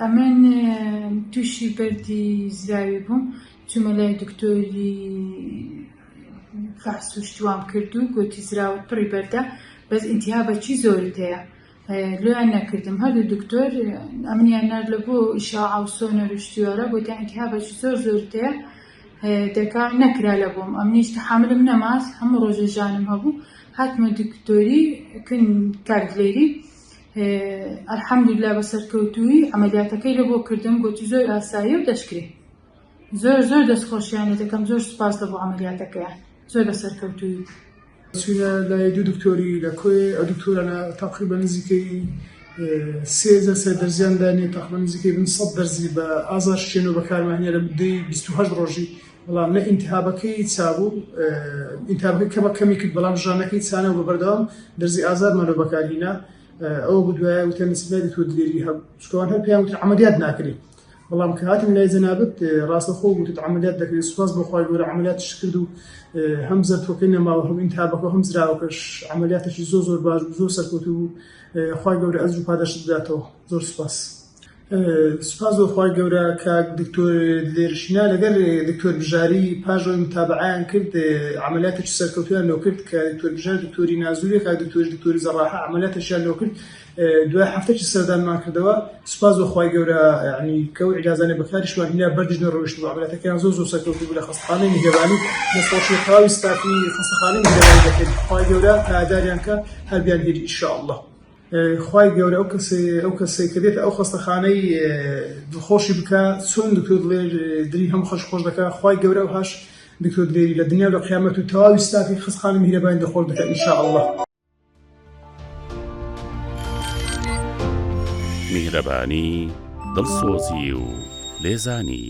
ئەمن توشی بەردی زراوی بووم چومە لای دکتۆری فحسو شتوام کردو گۆتی زراوت پڕی بەردە بەس ئینتیها بەچی زۆرت هەیە لۆیان نەکردم هەردوو دکتۆر ئەمنیان نار لە بۆ ئیشاعە و سۆنەر و شتیوارە گۆتیان ئینتیها بەچی زۆر زۆرت هەیە دەکا نەکرا لە بۆم ئەمنیش تەحاملم نەماس هەموو ڕۆژە ژانم هەبوو هاتمە دکتۆری کن کارگلێری الحمدللە بە سەرکەوتوویی عەمەلیاتەکەی لە بۆ کردم گۆتی زۆر ئاساییە و دەشکرێ زۆر زۆر دەست خۆشیانە دەکەم زۆر سپاس لە بۆ عەمەلیاتەکەیان زۆر بە سەرکەوتوویی چوینە لای دوو دکتۆری لە کۆێ ئە دکتۆرە لە تەقریبا نزیکەی سێزە سێ دەرزیان دانێ تەقریبا نزیکەی بن سەد دەرزی بە ئازار شێن و بەکارمانە لە مدەی 28 ڕۆژی بەڵام لە ئینتهابەکەی چابوو ئینتهابەکەی کەمە کەمی کرد بەڵام ژانەکەی چانە بە بەردەوام دەرزی ئازادمانە بەکارهینا ئەوە بدوایە وتە نسبەری تۆ دلێری هەب شکوان هەر پێیان وتە عملیات ناکرێت بەڵام کە هاتم لای جەنابت ڕاستەخۆ وتت عملیات دەکرێت سوپاس بۆ خۆی گەورە عملیات شکرد و هەم زەرتۆکەی نەماوە هەم ئینتهابەکە هەم زراوەکەش عملیاتێکی زۆر زۆر باش زۆر سەرکوت و خۆی گەورە ئەزر و پاداشت بداتەوە زۆر سوپاس. سوپاس بۆ خوای گەورە کاک دکتۆر لێرشینا لەگەر دکتۆر بژاری پاژۆی متابعیان کرد عملیاتێکی سەرکەوتویان لۆ کرد کە دکتۆر بژار دکتۆری نازوری کاک دکتۆر دکتۆری زەڕاحە عملیاتێکیان لۆ کرد دوای هەفتەکی سەردانمان کردەوە سوپاس بۆ خوای گەورە ینی کەو عیلازانە بەکاریشمان هینا بەردیش نەڕۆیشت بۆ عملیاتەکەیان زۆر زۆر سەرکەوتو بوو لە خەستەخانەی میهرەبانی دەستخۆشی تەواوی ستافی خەستەخانەی میهرەبانی دەکەین خوای گەورە پایەداریان کە هەر بیان بیر ان شاء اللە خوای گەورە ئەو کەسەی ئەو کەسەی کە دێتە ئەو خەستەخانەی دڵخۆشی بکە چۆن دکتۆر دڵێ دری هەموو خەش خۆش دەکە خوای گەورە ئەو هاش دکتۆر دلێری لە دنیا و لە قیامەت و تەواوی ستافی خەستخانە میهرەبانی دڵخۆش دەکە ان شاء اللە. میهرەبانی دڵسۆزی و لێزانی.